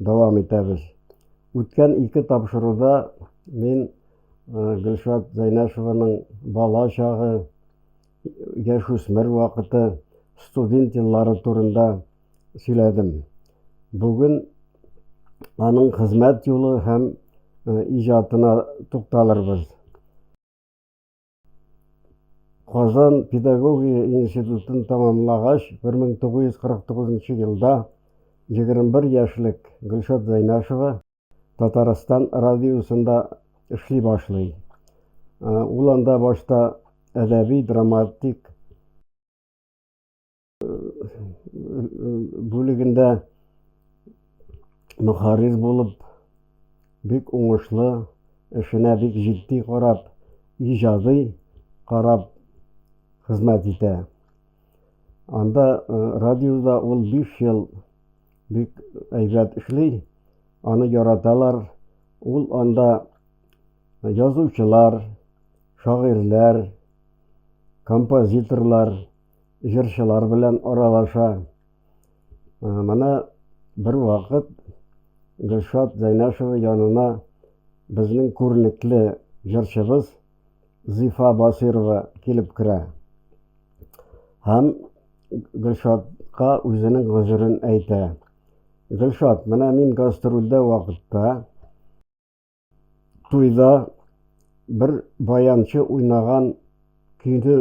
Дәвам итәбез. Үткән ике тапшыруда мин Гөлшат Зәйнәшеваның бала чагы, яшүсмер вакыты, студент еллары турында сөйләдем. Бүген аның хезмәт юлы һәм иҗатына тукталырбыз. Казан педагогия институтын тәмамлагач, 1949 елда 21 яшьлек Гөлшат Зәйнәшева Татарстан радиосында эшли башлый. Ул анда башта әдәби-драматик бүлегендә мөхәррир булып, бик уңышлы, эшенә бик җитди карап, иҗади карап хезмәт итә. Анда радиода ул 5 ел бик әйбәт эшли, аны яраталар. Ул анда язучылар, шагыйрьләр, композиторлар, җырчылар белән аралаша. Менә бервакыт Гөлшат Зәйнәшева янына безнең күренекле җырчыбыз Зифа Басирова килеп керә. Һәм Гөлшатка үзенең гозерен әйтә. Гөлшат, менә мин гастрольдә вакытта, Туйда бер баянчы уйнаган көйне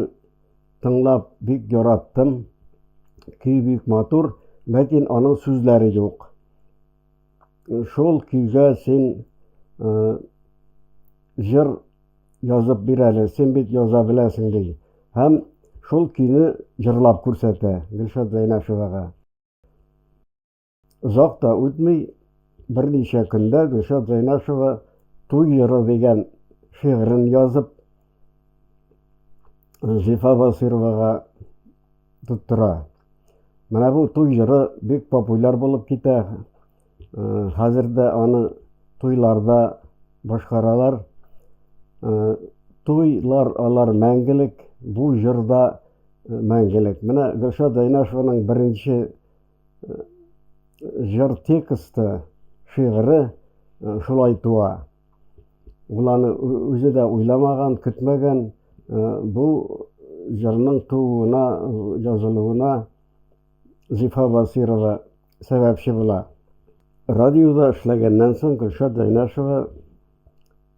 тыңлап бик яраттым. Көй бик матур, ләкин аның сүзләре юк. Шул көйгә син җыр язып бир әле, син бит яза беләсең, ди һәм шул көйне җырлап күрсәтә Гөлшат Зәйнәшевага. Озак та үтми, берничә көндә Гөлшат Зәйнашева Туй йоры дигән шигырен язып, Зифа Басыйровага тоттыра. Менә бу туй йоры бик популяр булып китә. Хәзер дә аны туйларда башкаралар. Туйлар алар мәңгелек, бу җырда мәңгелек. Менә Гөлшат Зәйнашеваның беренче җыр тексты, шигыре шулай туа. Ул аны үзе дә уйламаган, көтмәгән. Бу җырның тууына, язылуына Зифа Басирова сәбәпче була. Радиода эшләгәннән соң Гөлшат Зәйнәшева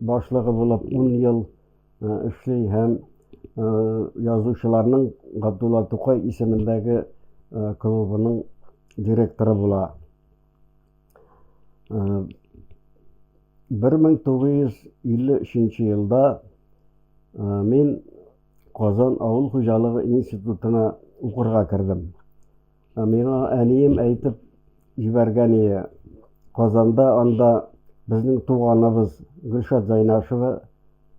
Башлыгы булып ун ел эшли һәм язучыларның Габдулла Тукай исемендәге клубының директоры була. 1953 нче елда мин Казан авыл хуҗалыгы институтына укырга кердем. Ә миңа әнием әйтеп җибәргән ие, Казанда анда безнең туганыбыз Гөлшат Зәйнашева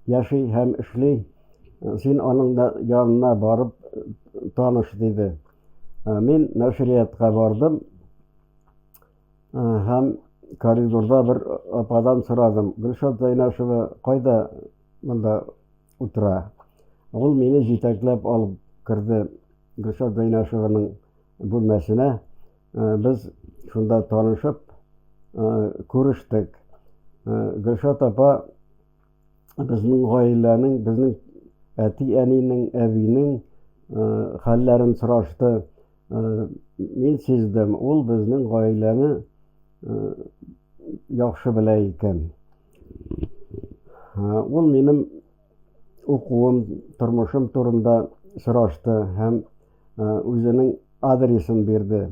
яши һәм эшли, син аның янына барып таныш, диде. Мин нәшриятка бардым һәм коридорда бер ападан сорадым, Гөлшат Зәйнашева кайда монда? утыра. Ул мине җитәкләп алып керде Гөлшат Гыйнашеваның бүлмәсенә. Э, без шунда танышып, э, күрештек. Э, Гөлшат апа безнең гаиләнең, безнең әти-әнинең, әбинең хәлләрен сорашты. Мин сиздем, ул безнең гаиләне яхшы белә икән. Ул минем укуым, тормышым турында сорашты һәм үзенең адресын бирде.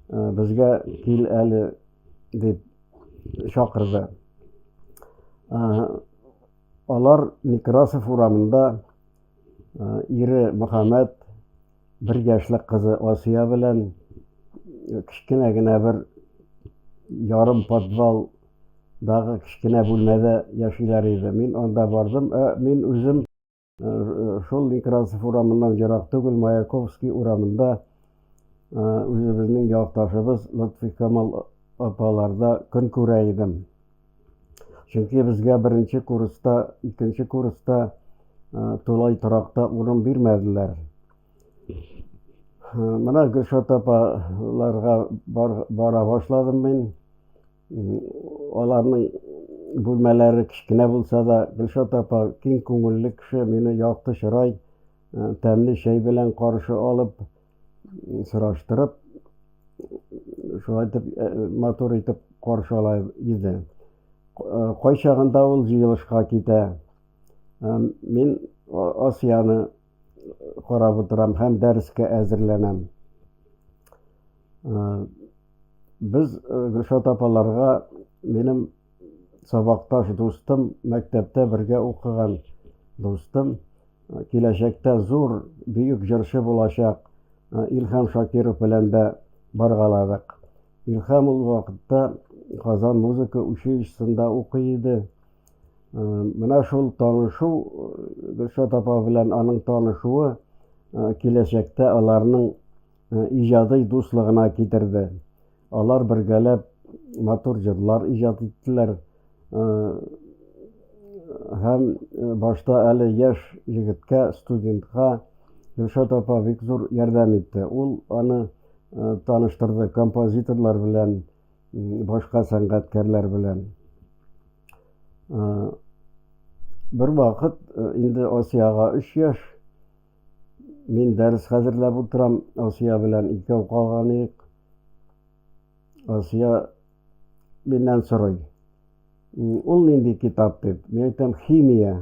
Безгә кил әле дип чакырды. Алар Некрасов урамында Ире Мөхәммәт, бер яшьлек кызы Асия белән кечкенә генә бер ярым подвал дагы кечкенә бүлмәдә яшиләр иде. Мин анда бардым. Ә мин үзем шул Некрасов урамыннан ерак түгел, Маяковский урамында үзебезнең якташыбыз Лотфикамал апаларда көн күрә идем. Чөнки безгә беренче курста, икенче курста тулай торакта урын бирмәделәр. Менә Гөлшат апаларга бар, бара башладым мин. Аларның бүлмәләре кечкенә булса да, Гөлшат апа киң күңелле кеше, мине якты чырай, тәмле чәй белән каршы алып, сораштырып, шулай итеп, э, матур итеп каршы ала иде. Э, кайчагында ул җыелышка китә. Э, мин Асияны карап утырам һәм дәрескә әзерләнәм. Без Гөлшат апаларга минем сабакташ дустым, мәктәптә бергә укыган дустым, киләчәктә зур, бөек җырчы булачак Илһам Шакиров белән дә баргаладык. Илһам ул вакытта Казан музыка училищесында укый иде. Менә шул танышу, Гөлшат апа белән аның танышуы киләчәктә аларның иҗадый дуслыгына китерде. Алар бергәләп матур җырлар иҗат иттеләр. Һәм башта әле яшь егеткә, студентка Гөлшат апа бик зур ярдәм итте. Ул аны таныштырды композиторлар белән, башка сәнгатькәрләр белән. Бервакыт инде Асиягә өч яшь, мин дәрес хәзерләп утырам, Асия белән икәү калган идек. Асия миннән сорый. Ул нинди китап дип? Мин әйтәм, химия.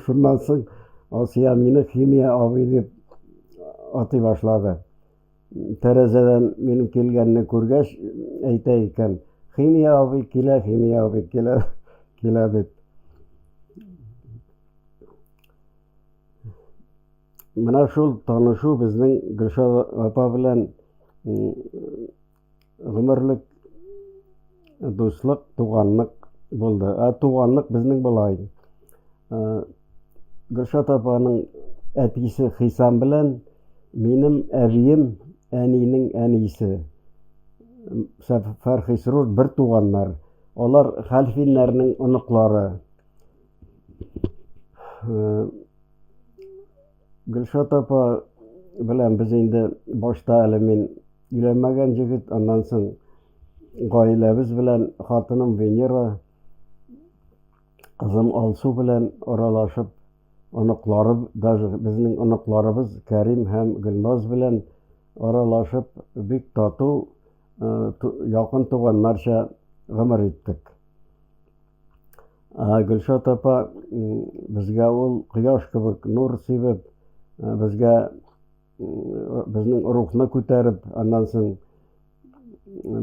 Шуннан соң Асия мине химия абый дип атый башлады. Тәрәзәдән минем килгәнне күргәч, әйтә икән, химия абый килә, химия абый килә, килә дип. Менә шул танышу безнең Гөлшат апа белән гомерлек дуслык, туганлык булды. Ә туганлык безнең болай. Гөлшат апаның әтисе Хисам белән минем әбием әнинең әнисе Фәрхисрур бер туганнар. Алар хәлфиннәрнең оныклары. Гөлшат апа белән без инде башта әле мин өйләнмәгән җегет, аннан соң гаиләбез белән хатыным Венера, кызым Алсу белән аралашып, оныклары, даже безнең оныкларыбыз Кәрим һәм Гөлназ белән аралашып, бик тату, якын туганнарча гомер иттек. Гөлшат апа безгә ул кояш кебек нур сибеп, безгә безнең рухны күтәреп, аннан соң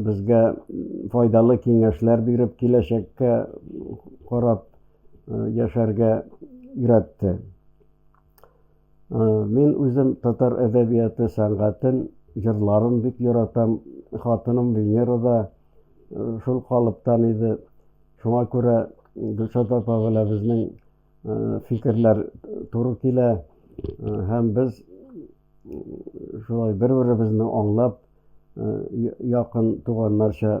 безгә файдалы киңәшләр биреп, киләчәккә карап яшәргә өйрәтте. Мин үзем татар әдәбияты сәнгатен, җырларын бик яратам. Хатыным Венера да шул калыптан иде. Шуңа күрә Гөлшат апа белән безнең фикерләр туры килә. Һәм без шулай бер-беребезне аңлап, якын туганнарча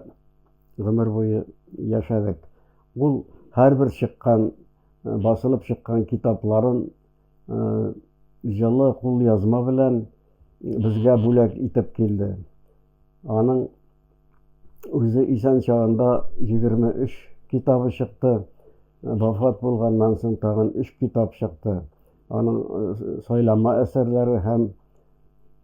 гомер буе яшәдек. Ул һәрбер чыккан басылып чыккан китапларын җылы кулъязма белән безгә бүләк итеп килде. Аның үзе исән чагында 23 китабы чыкты, вафат булганнан соң тагын өч китап чыкты. Аның сайлама әсәрләре һәм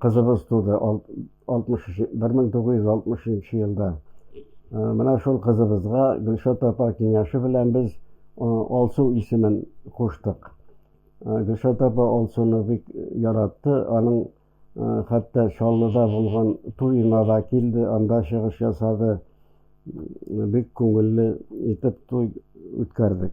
Кызыбыз туды 1960 елда. Менә шул кызыбызга Гөлшат апа киңәше белән без Алсу исемен куштык. Гөлшат апа Алсуны бик яратты, аның хәтта Чаллыда булган туена да килде, анда чыгыш ясады. Бик күңелле итеп туй үткәрдек.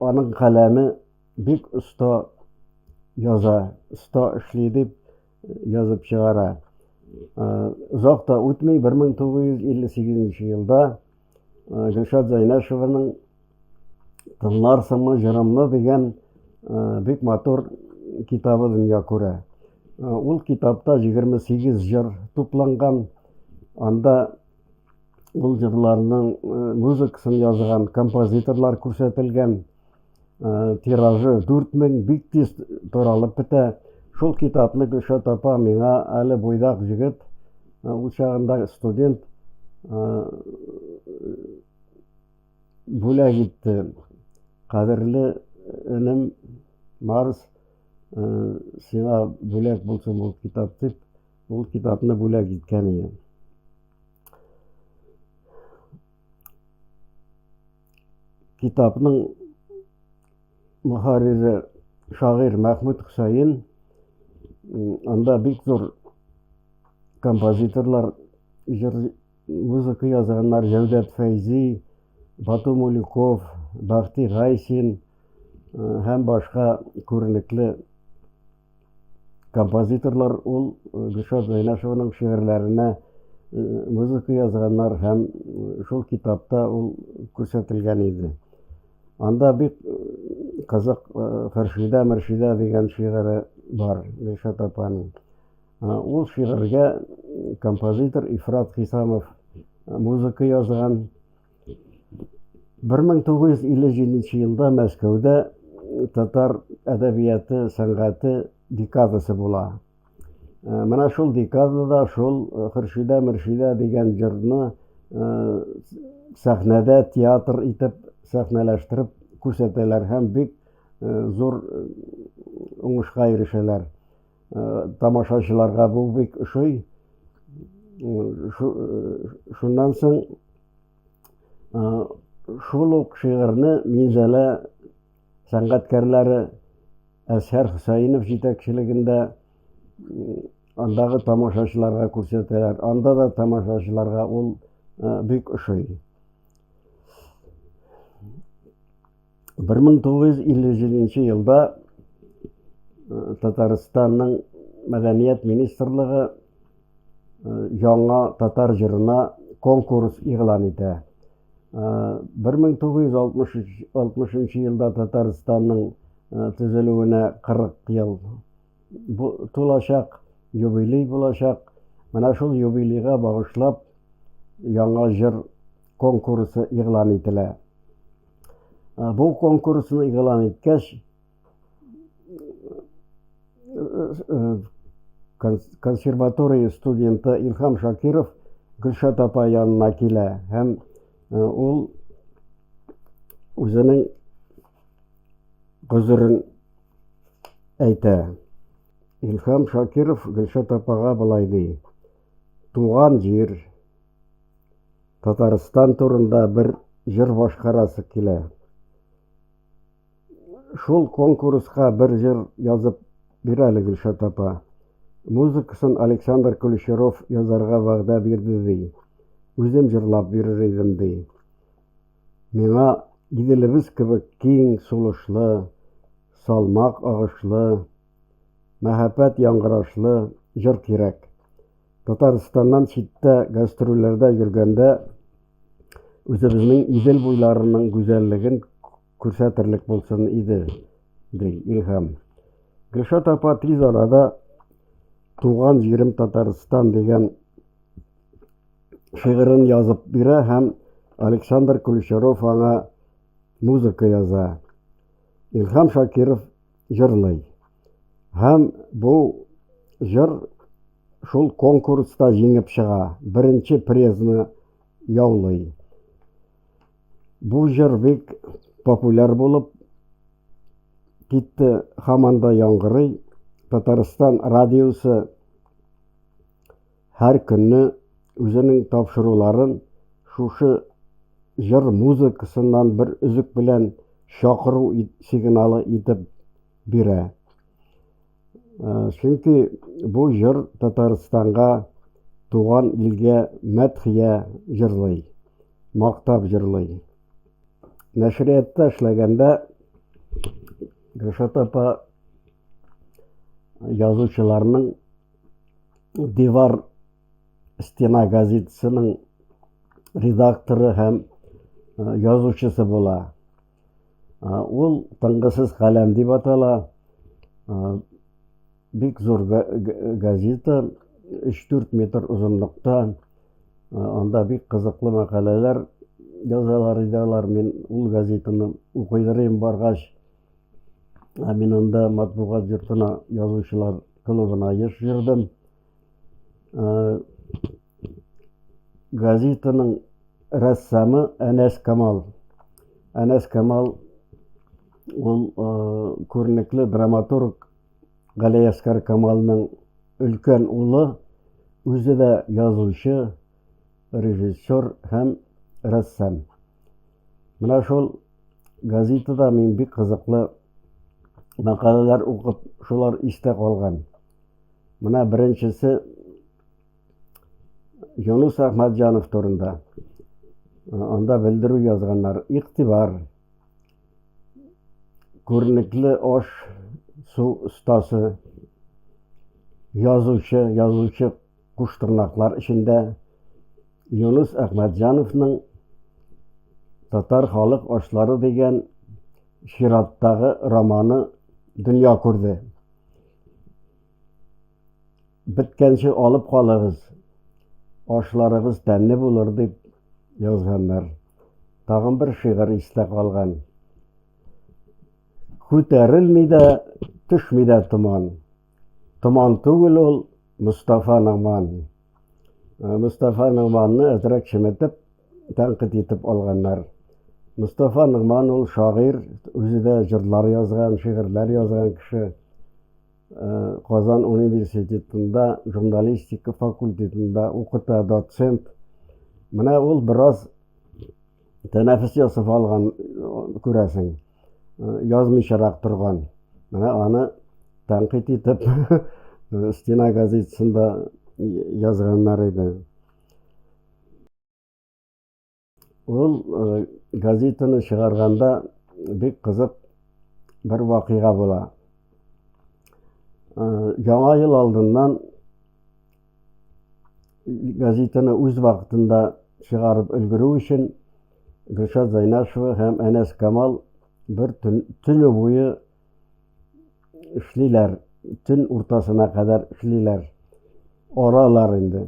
Аның каләме бик оста яза, оста эшли дип язып чыгара. Озак та үтми, 1958 елда Гөлшат Зәйнәшеваның Тыңларсыңмы җырымны дигән бик матур китабы дөнья күрә. Ул китапта 28 җыр тупланган. Анда Ул җырларның э, музыкасын язган композиторлар күрсәтелгән. Э, тиражы 4000 бик тиз таралып бетә. Шул китапны Гөлшат апа миңа әле буйдак җегет, э, ул чагында студент бүләк итте. Кадерле энем Марс сиңа бүләк булсын бу китап дип Ул китапны бүләк иткән ием. Китапның мөхәррире шагыйрь Мәхмүд Хөсәен анда бик зур композиторлар җыр музыка язганнар Җәүдәт Фәйзи, Бату Мулюков, Бахти Гайсин һәм башка күренекле Композиторлар ул э, Гөлшат Зәйнәшеваның шигырьләренә э, музыка язганнар һәм шул китапта ул күрсәтелгән иде. Анда бик казак Хөршидә Мөршидә дигән шигыре бар Гөлшат апаның. Ул шигырьгә композитор Ифрат Хисамов музыка язган. 1957 елда Мәскәүдә татар әдәбияты, сәнгате декадасы була. Менә шул декадада шул Хөршидә Мөршидә дигән җырны сәхнәдә театр итеп сәхнәләштереп күрсәтәләр һәм бик зур уңышка ирешәләр. Тамашачыларга бу бик ошый. Шуннан соң шул ук шигырьне Минзәлә сәнгатькәрләре Әсхәр Хөсәенов җитәкчелегендә андагы тамашачыларга күрсәтәләр. Анда да тамашачыларга ул бик ошый. 1957 елда Татарстанның мәдәният министрлыгы яңа татар җырына конкурс игълан итә. 1960 елда Татарстанның төзелүенә 40 ел тулачак, юбилей булачак. Менә шул юбилейга багышлап яңа җыр конкурсы игълан ителә. Бу конкурсны игълан иткәч, консерватория студенты Илһам Шакиров Гөлшат апа янына килә һәм ул үзенең гозерен әйтә. Илһам Шакиров Гөлшат апага болай ди. Туган җир, Татарстан турында бер җыр башкарасы килә. Шул конкурска бер җыр язып бир әле, Гөлшат апа. Музыкасын Александр Кулещеров язарга вәгъдә бирде, ди. Үзем җырлап бирер идем, ди. Миңа Иделебез кебек киң сулышлы, салмак агышлы, Мәһабәт яңгырашлы җыр кирәк. Татарстаннан читтә гастрольләрдә йөргәндә үзебезнең Идел буйларының гүзәллеген күрсәтерлек булсын иде, ди Илһам. Гөлшат апа тиз арада Туган җирем Татарстан дигән шигырен язып бирә һәм Александр Ключаров аңа музыка яза. Илһам Шакиров җырлый. Һәм бу җыр шул конкурста җиңеп чыга, беренче призны яулый. Бу җыр бик популяр булып китте, һаман да яңгырый. Татарстан радиосы Һәр көнне үзенең тапшыруларын шушы җыр музыкасыннан бер өзек белән чакыру сигналы итеп бирә. Чөнки бу җыр Татарстанга, туган илгә мәдхия җырлый, мактап җырлый. Нәшриятта эшләгәндә Гөлшат апа язучыларның Дивар стена газетасының редакторы һәм язучысы була. Ул тыңгысыз каләм дип атала. Бик зур газета, 3-4 метр озынлыкта. Анда бик кызыклы мәкаләләр язалар иде алар. Мин ул газетаны укыйдыр идем баргач. Ә мин анда матбугат йортына язучылар клубына еш йөрдем. Ә, газетаның рәссамы Әнәс Камал. Әнәс Камал ул күренекле драматург Галиәскар Камалның өлкән улы, үзе дә язучы. режиссер һәм рәссам. Менә шул газетада мин бик кызыклы мәкаләләр укып, шулар истә калган. Менә беренчесе Юнус Әхмәтҗанов турында. Анда белдерү язганнар. Игътибар. Күренекле аш су остасы, язучы, язучы Куштырнаклар эчендә Юныс Әхмәтҗановның Татар халык ашлары дигән чираттагы романы дөнья күрде. Беткәнче алып калыгыз, ашларыгыз тәмле булыр, дип язганнар. Тагын бер шигырь истә калган. Күтәрелми дә, төшми дә томан. Томан түгел ул, Мостафа Ногман. Мостафа Ногманны әзрәк чеметеп, тәнкыйть итеп алганнар. Мостафа Ногман ул шагыйрь, үзе дә җырлар язган, шигырьләр язган кеше. Казан университетында журналистика факультетында укыта, доцент. Менә ул бераз Тәнәфес ясап алган, күрәсең, язмыйчарак торган. Менә аны тәнкыйть итеп Стена газетасында язганнар иде. Ул газетаны чыгарганда бик кызык бер вакыйга була. Яңа ел алдыннан газетаны үз вакытында чыгарып өлгерү өчен Гөлшат Зайнашева һәм Әнәс Камал бер төн, төне буе эшлиләр, төн уртасына кадәр эшлиләр. Аралар инде.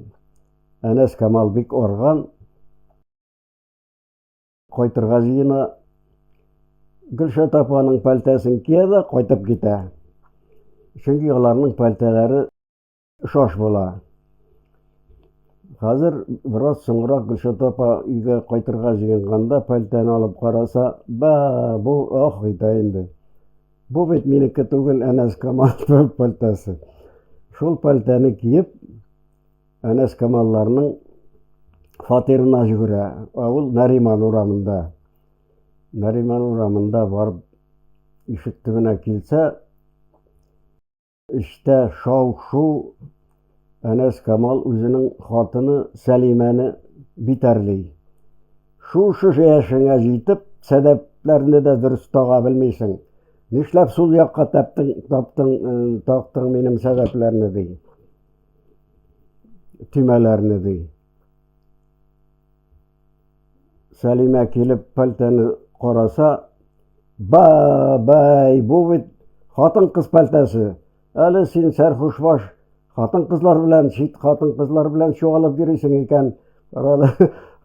Әнәс Камал бик арган, кайтырга җыена. Гөлшат апаның пәлтәсен кия дә кайтып китә. Чөнки аларның пәлтәләре Шаш була. Хәзер бераз соңрак Гөлшат апа өйгә кайтырга җыенганда пәлтәне алып караса, ба, бу ох итә инде. Бу бит минеке түгел, Әнәс Камаловның пәлтәсе. Шул пәлтәне киеп, Әнәс Камалларның фатирына жүгерә. Ә ул Нариман урамында. Нариман урамында барып ишек төбенә килсә, Эчтә шау-шу, Әнәс Камал үзенең хатыны Сәлимәне битәрли. Шушы яшеңә җитеп, сәдәпләрне дә дөрес тага белмисең. Нишләп сул якка тәптең, тактың минем сәдәпләрне, ди. Төймәләрне, ди. Сәлимә килеп пәлтәне караса, ба-бай, бу бит хатын кыз пәлтәсе. Әле син сәрхуш баш хатын кызлар белән, чит хатын кызлар белән чуалып йөрисең икән, карале,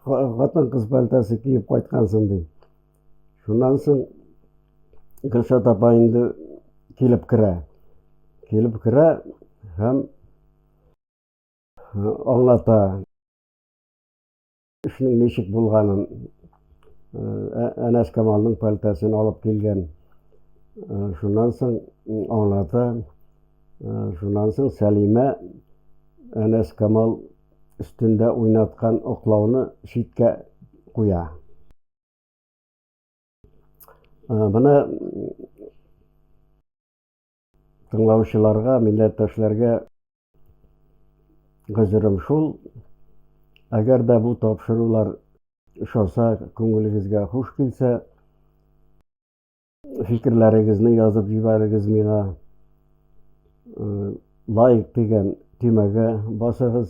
хатын кыз пәлтәсе киеп кайткансың ди. Шуннан соң Гөлшат апа инде килеп керә. Килеп керә һәм аңлата. Эшнең ничек булганын, ә, Әнәс Камалның пәлтәсен алып килгән. Ә, Шуннан соң м, аңлата. Ә, Шуннан соң Сәлимә Әнәс Камал өстендә уйнаткан оклауны читкә куя. Ә, Менә Тыңлаучыларга, милләттәшләргә гозерем шул, әгәр дә бу тапшырулар ошаса, күңелегезгә хуш килсә, фикерләрегезне язып җибәрегез миңа. Лайк дигән төймәгә басыгыз.